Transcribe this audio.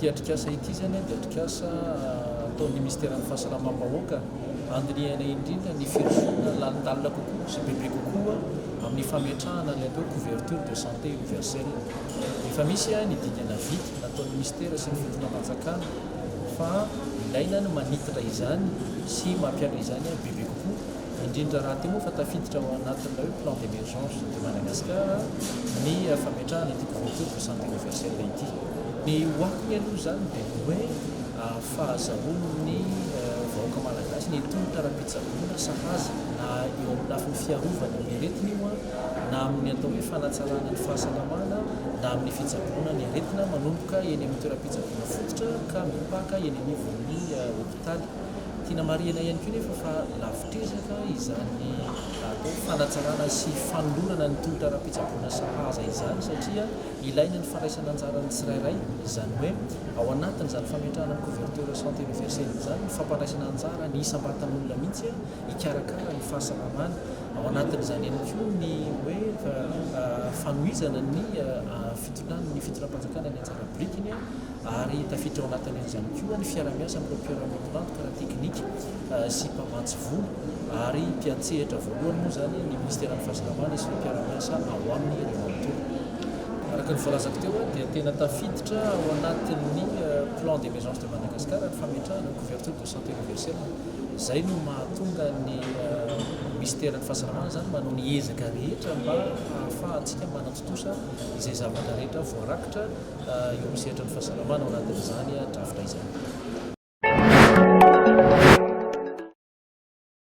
Ity atrikasa ity izany dia atrikasa ah, ataon'ny minisiteran'ny fahasalamam-bahoaka andinihana indrindra ny firosoana lanitalina kokoa sy bebe kokoa amin'ny fametrahana ny atao couverture de santé universelle. Efa misy ah, ny dingana vita nataon'ny minisitera sy ny fotoanam-panjakana fa ilaina ny manitatra izany sy mampiala izany ah, bebe kokoa. indrindra raha toa moa fa tafiditra ao anatin'ilay hoe plan d'emergence de Madagascar ny fametrahana ity couverture de santé universelle ity. Ny ho akony aloha izany dia ny hoe fahazahoan'ny vahoaka malagasy ny tolotra ara-pitsaboana sahaza na eo amin'ny lafiny fiarovana ny aretina io na amin'ny atao hoe fanatsarana ny fahasalamana na amin'ny fitsaboana ny aretina manomboka eny amin'ny toeram-pitsaboana fototra ka mipaka eny anivon'ny hopitaly Tiana marihina ihany koa nefa fa lavitr'ezaka izany atao hoe fanatsarana sy fanolorana ny tolotra ara-pitsaboana sahaza izany satria ilaina ny fandraisan'anjaran'ny tsirairay, izany hoe ao anatin'izany fametrahana ny couverture santé universelle izany ny fampandraisana anjara ny isam-batan'olona mihitsy hikarakara ny fahasalamany, ao anatin'izany ihany koa ny hoe fanohizana ny fitondran'ny fitondram-panjakana ny anjara birikiny. ary tafiditra ao anatin'izany koa ny fiara-miasa amin'ireo mpiara-miombon'antoka ara-teknika sy mpamatsy vola ary mpiantsehatra voalohany moa izany ny Minisiteran'ny Fahasalamana sy ny mpiara-miasa ao aminy ireo manontolo. Araka ny voalazako teo dia tena tafiditra ao anatin'ny Plan d'emergence de Madagascar ny fametrahana ny couverture de santé universelle, izay no mahatonga ny Minisiteran'ny Fahasalamana izany manao ny ezaka rehetra mba hahafahantsika manatontosa izay zavatra rehetra voarakitra eo amin'ny sehatra ny fahasalamana ao anatin'izany drafitra izany.